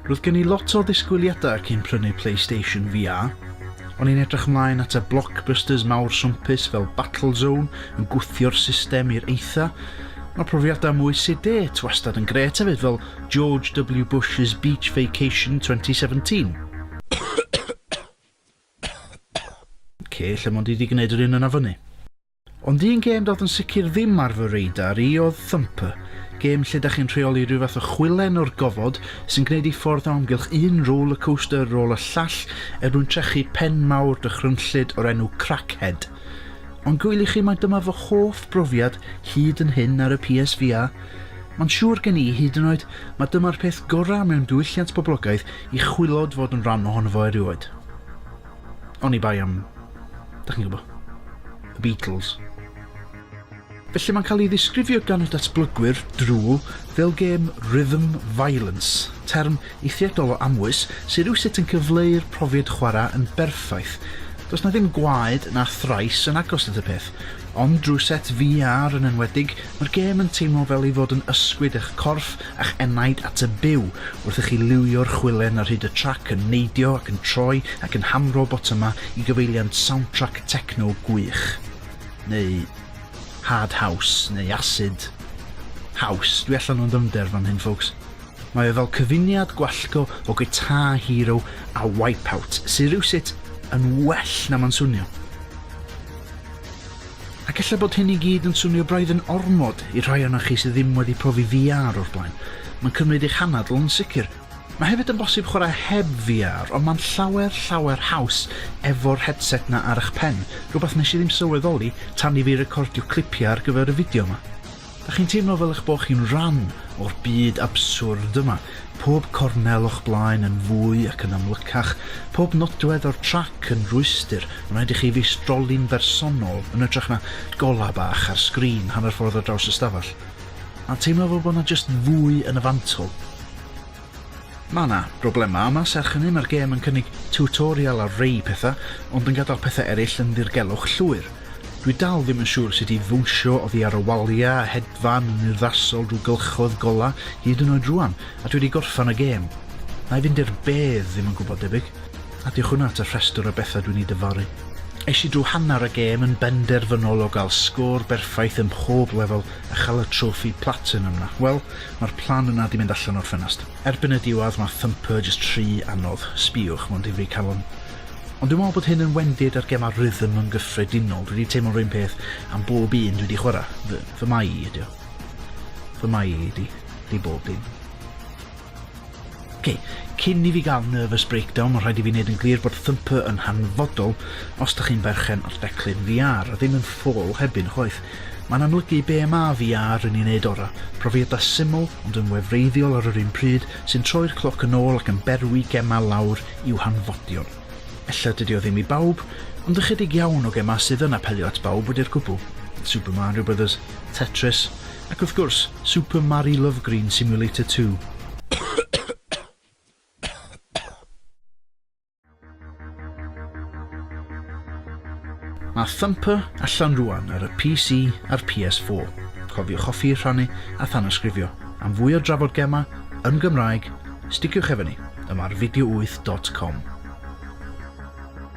Roedd gen i lot o ddisgwyliadau cyn prynu PlayStation VR. O'n i'n edrych ymlaen at y blockbusters mawr swmpus fel Battlezone yn gwthio'r system i'r eitha. Mae profiadau mwy CD wastad yn gret hefyd fel George W Bush's Beach Vacation 2017. Oce, lle mond i di gwneud yr un yna fyny. Ond un gêm doedd yn sicr ddim ar fy radar i oedd Thumper, gêm lle da chi'n rheoli rhyw fath o chwilen o'r gofod sy'n gwneud ei ffordd o amgylch un roller coaster ar ôl y llall er mwyn trechu pen mawr dychrynllyd o'r enw Crackhead. Ond gwyl i chi mae dyma fy hoff brofiad hyd yn hyn ar y PSVR. Mae'n siŵr gen i hyd yn oed mae dyma'r peth gorau mewn diwylliant poblogaidd I chwilod fod yn rhan ohono fo erioed. Oni bai am, da chi'n gwybod, y Beatles. Felly mae'n cael ei ddisgrifio gan y datblygwyr drwy fel gêm rhythm violence, term eithriadol o amwys sydd rywsut yn cyfleu'r profiad chwarae yn berffaith. Does na ddim gwaed na thrais yn agos at y peth, ond drwy set VR yn enwedig, mae'r gêm yn teimlo fel ei fod yn ysgwyd eich corff a'ch enaid at y byw wrth i chi liwio'r chwilen ar hyd y trac yn neidio ac yn troi ac yn hamro botymau i gyfeiliant soundtrack techno gwych. Neu hard house, neu acid house. Dwi allan o'n ddyfnder fan hyn, folks. Mae o fel cyfuniad gwallgo o Guitar Hero a Wipeout, sydd rhywsut yn well na ma'n swnio. Ac ella bod hyn i gyd yn swnio braidd yn ormod i'r rhai ohonoch chi sydd ddim wedi profi VR o'r blaen. Mae'n cymryd eich hanadl yn sicr. Mae hefyd yn bosib chwarae heb VR, ond mae'n llawer, llawer haws efo'r headset 'na ar 'ych pen, rhywbeth nes i ddim sylweddoli tan i fi recordio clipiau ar gyfer y fideo 'ma. Dych chi'n teimlo fel eich bod chi'n rhan o'r byd abswrd yma, pob cornel o'ch blaen yn fwy ac yn amlycach, pob nodwedd o'r trac yn rwystr, mae'n rhaid i chi feistroli'n bersonol yn ytrach na golau bach ar sgrin hanner ffordd ar draws y stafell, a'n teimlo fel bod 'na jyst fwy yn y fantol. Mae 'na broblemau yma, serch hynny mae'r gêm yn cynnig tiwtorial ar rei pethau, ond yn gadael pethau eraill yn ddirgelwch llwyr. Dwi dal ddim yn siŵr sut i ddwnsio oddi ar y waliau a hedfan yn urddasol drwy gylchoedd golau, hyd yn oed rŵan, a dwi wedi gorffan y gêm. Na'i fynd i'r bedd ddim yn gwybod debyg. A diolch hwnna at y rhestr o bethau dwi'n eu dyfaru. Es i drwy hanner y gêm yn benderfynol o gael sgôr berffaith ym mhob lefel a chael y trofi platinum 'na. Wel, Ma'r plan yna 'di mynd allan o'r ffenast. Erbyn y diwadd ma Thumper jyst rhy anodd, sbiwch, ma'n difri calon. Ond dwi me'wl bod hyn yn wendid ar gema rhythm yn gyffredinol, dwi 'di teimlo'r un peth am bob un dwi 'di chwara'. Fy, fy mai i ydi o. Fy mai i 'di, 'di bob dim. Ok, cyn i fi gael nervous breakdown, mae'n rhaid i fi wneud yn glir bod Thumper yn hanfodol os da chi'n berchen ar declyn VR, a ddim yn ffôl hebyn, chwaith. Mae'n amlygu be ma VR yn ei wneud ora, profiadau syml ond yn wefreiddiol ar yr un pryd sy'n troi'r cloc yn ôl ac yn berwi gemau lawr i'w hanfodion. Ella dydy o ddim i bawb, ond ychydig iawn o gemau sydd yn apelio at bawb wedi'r cwbl. Super Mario Brothers, Tetris, Ac wrth gwrs, Super Mari Lovegreen Simulator Two. Mae Thumper allan rwan ar y PC a'r PS4. Cofiwch hoffi, rhannu a thanysgrifio. Am fwy o drafod gemau yn Gymraeg, sticiwch efo ni yma ar video8.com.